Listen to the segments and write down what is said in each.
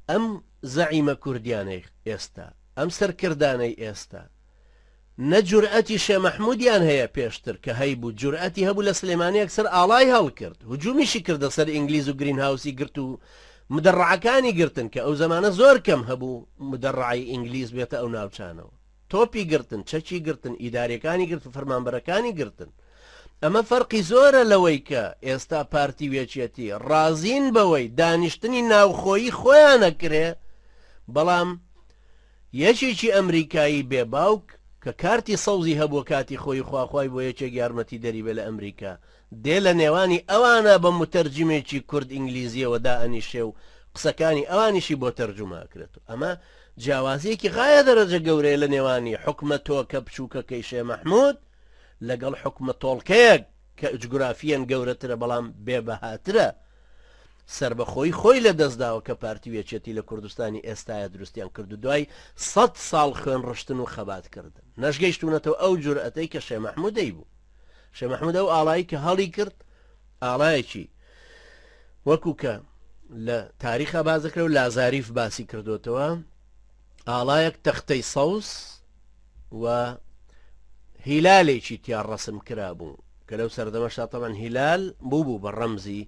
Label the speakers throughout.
Speaker 1: ئەم زەعیمە کوردیانەی ئێستا، ئەم سەرکردانەی ئێستا، نە جورئەتی شێ مەحمودیان هەیە پێشتر کە هەیبوو جورئەتی هەبوو لە سلێمانی ئەکسەر ئاڵای هەڵکرد هجومیشی کردە سەر ئینگلیز و گرین هاوسی گرت و مدەڕعەکانی گرتن کە ئەو زەمانە زۆر کەم هەبوو مدەڕعی ئینگلیز بێتە ئەو ناوچانەوە. تۆپی گرتن، چەکی گرتن، ئیدارەکانی گرتن، فەرمانبەرەکانی گرتن. ئەمە فەرقی زۆرە لەوەی کە ئێستا پارتی و یەکێتی ڕازین بەوەی دانیشتنی ناوخۆیی خۆیان ئەکرێ، بەڵام یەکێکی ئەمریکایی بێ باوک کە کارتی سەوزی هەبووە کاتی خۆیی خواخوای بۆ یەکێک یارمەتیدەری بێ لە ئەمریکا، دێ لە نێوانی ئەوانە بە موتەرجیمێکی کورد ئینگلیزییەوە دائەنیشێ و قسەکانی ئەوانیشی بۆ تەرجومە ئەکرێت و ئەمە جیاوازییەکی غایە دەرەجە گەورەیە لە نێوانی حوکمە تۆکە بچووکەکەی شێ مەحموود لەگەڵ حوکمە تۆڵکەیەک کە ئجگرافییەن گەورەترە بەڵام بێ بەهاترە سەربەخۆیی خۆی لە دەست داوە کە پارتی و یەکێتی لە کوردستانی ئێستایە دروستیان کرد و دوای سەد ساڵ خوێن ڕشتن و خەبات کردن نەشگەیشتوونەتەوە ئەو جورئەتەی کە شێ مەحموود دەیبوو شێ مححمود ئەو ئاڵایی کە هەڵی کرد ئاڵایەکی وەکو کە لە تاریخە بازەکە و لازاریف باسی کردوتەوە ئاڵایەک تەختەی سەوز و هیلالێکی تیا ڕسم کرا بوو کە لەو سەردەمە شاتەمان هیلال بوو بوو بە ڕەمزی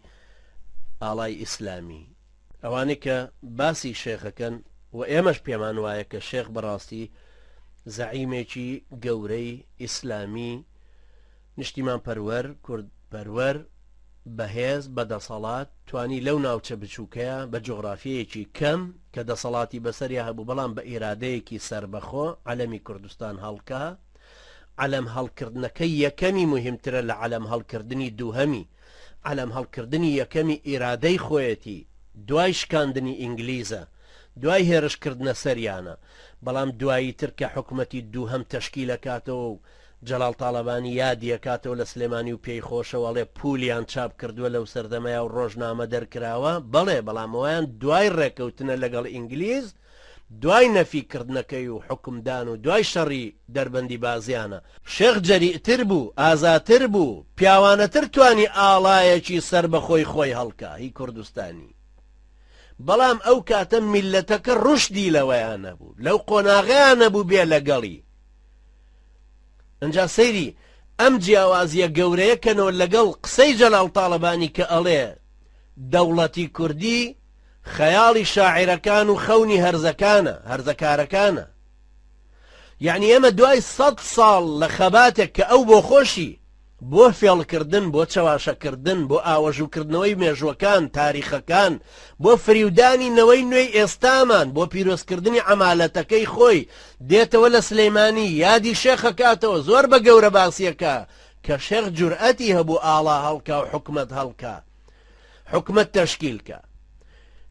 Speaker 1: ئاڵای ئیسلامی ئەوانەی کە باسی شێخەکەن و ئێمەش پێمان وایە کە شێخ بەڕاستی زەعیمێکی گەورەی ئیسلامی نیشتیمان پەروەر کورد پەروەر بەهێز بە دەسەڵات توانی لەو ناوچە بچووکەیە بە جغرافیەیەکی کەم کە دەسەڵاتی بەسەریا هەبوو بەڵام بە ئیرادەیەکی سربەخۆ علەمی کوردستان هەڵکە علەم هەڵکردنەکە یەکەمی مهمترە لە علەم هەڵکردنی دووهەمی عەلەم هەڵکردنی یەکەمی ئیرادەی خۆیەتی دوای شکاندنی ئینگلیزە دوای هێرش کردنە سەریانە بەڵام دوایی تر کە حکومەتی دووهەم تەشکیل ئەکاتەوە و جەڵاڵ تاڵەبانی یادی ئەکاتەوە لە سلێمانی و پێی خۆشە و ئەڵێ پولیان چاپ کردووە لەو سەردەمەیا و ڕۆژنامە دەرکراوە بەڵێ بەڵام ئەوان دوای ڕێکەوتنە لەگەڵ ئینگلیز دوای نەفی کردنەکەی و حوکم دان و دوای شەڕی دەربەندی بازیانە، شێخ جەریئتر بوو، ئازاتر بوو، پیاوانەتر توانی ئاڵایەکی سەربەخۆی خۆی هەڵکا هی کوردستانی، بەڵام ئەو کاتە میللەتەکە ڕوشدی لەوەیا نەبوو، لەو قۆناغەیا نەبوو بێ لەگەڵی، ئنجا سەیری ئەم جیاوازیە گەورەیە کەنەوە لەگەڵ قسەی جەلال تاڵەبانی کە ئەڵێ دەوڵەتی کوردی، خەیاڵی شاعیرەکان و خەونی هەرزەکانە، هەرزەکارەکانە. یەعنی ئێمە دوای سەد ساڵ لە خەباتێک کە ئەو بۆ خۆشی، بۆ فێڵکردن، بۆ چەواشەکردن، بۆ ئاوەژووکردنەوەی مێژووەکان، تاریخەکان، بۆ فریودانی نەوەی نوێی ئێستامان، بۆ پیرۆزکردنی عەمالەتەکەی خۆی، دێتەوە لە سلێمانی، یادی شێخەکاتەوە، زۆر بە گەورەباسییەکە کە شێخ جورئەتی هەبوو ئاڵا هەڵکا و حکومەت هەڵکا. حکومەت تەشکیل کا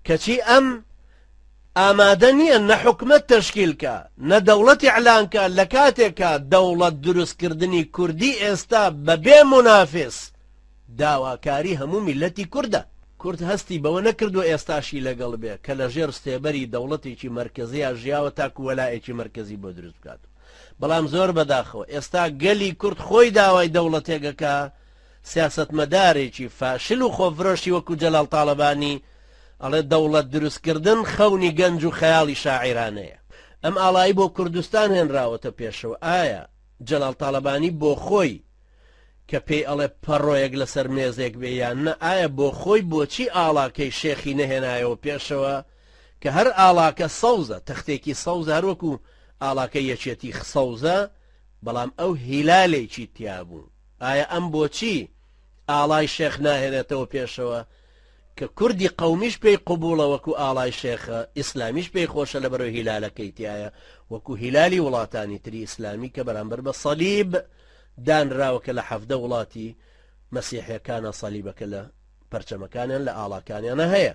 Speaker 1: کەچی ئەم ئامادە نییە نە حکومەت تەشکیل کا نە دەوڵەتی ئەلانکە لە کاتێکە دەوڵەت دروستکردنی کوردی ئێستا بەبێ منافس داواکاری هەموو میلەتی کووردە کورد هەستی بەوە نەکردو ئێستاشی لەگەڵ بێ کە لە ژێر ستێبەری دەوڵەتێکی مرکزیە ژیاوە تاکو وەلایەکی مرکزی بۆ دروست بکات بەڵام زۆر بەداخەوە ئێستا گەلی کورد خۆی داوای دەوڵەتێگەکە سیاسەتمەدارێکی فاشل و خۆفرۆشی وەکو جەلال تاڵەبانی ئەڵێ دەوڵەت دروستکردن خەونی گەنج و خەیاڵی شاعیرانەیە. ئەم ئاڵایی بۆ کوردستان هێنراوەتە پێشەوە، ئایا جەلال تاڵەبانی بۆخۆی کە پێی ئەڵێ پەڕۆیەک لەسەر مێزێک بێ یان نە، ئایا بۆخۆی بۆچی ئاڵاکەی شێخی نەهێنایەوە پێشەوە کە هەر ئاڵاکە سەوزە، تەختێکی سەوزە هەروەکو ئاڵاکەی یەکێتی سەوزە، بەڵام ئەو هیلالێکی تیابوو. ئایا ئەم بۆچی ئاڵای شێخ ناهێنێتەوە پێشەوە کە کوردی قەومیش پێی قبوڵە وەکو ئاڵای شێخە، ئیسلامیش پێی خۆشە لەبەرو هیلالەکەی تیایە وەکو هیلالی وڵاتانی تری ئیسلامی کە بەرامبەر بە صەلیب دانراوە کە لە حەڤدە وڵاتی مەسیحیەکانا صەلیبەکە لە پەرچەمەکانیان لە ئاڵاکانیانا هەیە.